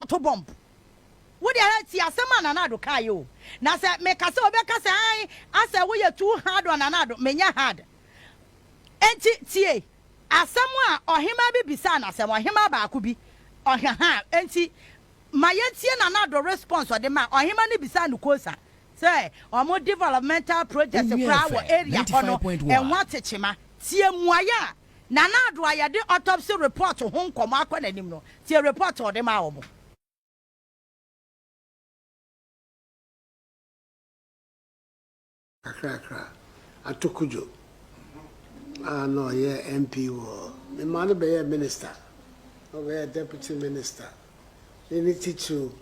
to bɔmb. Wo deɛ hɛ tie asɛm a Nana Addo kaeɛ o. Na sɛ meka sɛ obi bɛka sɛ ae asɛ woyɛ too hard on Nana Addo, menyɛ hard. Enti tie asɛm a ɔhemaa bi bisaa no asɛm, ɔhemaa baako bi, ɔhwɛ ha a. Enti ma yɛntie Nana Addo response a ɔde mae. Ɔhemaa no bisaa no kwosa sɛ wɔn developmental projects Wowie koraa wɔ fm area ninety hɔ no, five point one. ɛho atekyema. Tie mmuaeɛ a. Nana Addo a yɛde autopsy report ho nkɔmmɔ akɔ n'anim no, tie report a ɔde maa wɔn. Kakrakra, Ato Kudjo a na ɔyɛ MP wɔ. Ne maa no bɛyɛɛ Minister, na ɔbɛyɛɛ Deputy Minister ne ne titiriw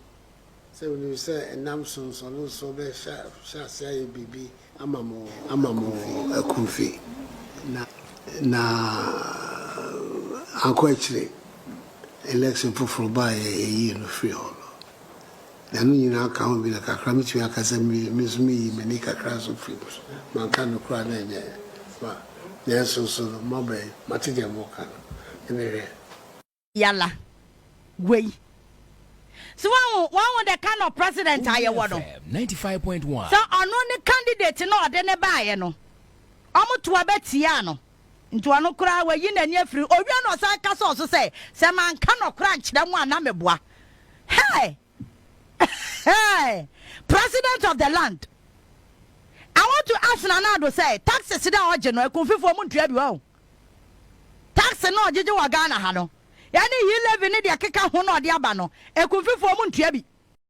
Sɛ wunim sɛ nna nsonsonoso bɛhyɛ ase ayɛ biribi ama mo akumfi na ankɔ akyiri election foforo ba a yɛyii no firii hɔ no, na ɛno nyinaa ka ho bi no, kakra metumi aka sɛ me nso meyii m'ani kakra nso firii mu. So manka no koraa na ɛnyɛ ma? Nanso nso no, mmabaa yi, moate deɛ moreka no? Mede hwɛ. Yala, guai. So wahu, wahu the kind of president a yɛwɔ no? Sɛ ɔno ne candidate no ɔde ne baeɛ no, ɔmo to aba tiaa no. Nti ɔno koraa wayi n'ani afiri owia na ɔsan ka sɛ ɔso sɛ, sɛ manka nɔkora nkyerɛ mo a na meboa. Hey! Hey! President of the land. I want to ask Nana Addo sɛ taxes dɛ ɔgye no akunfifoɔ mu ntua bi wɔ o. Tax no ɔgyegye wɔ Ghana ha no ɛne yi levy ne deɛ ɛkeka ho na ɔde aba no akunfifoɔ mu ntua bi.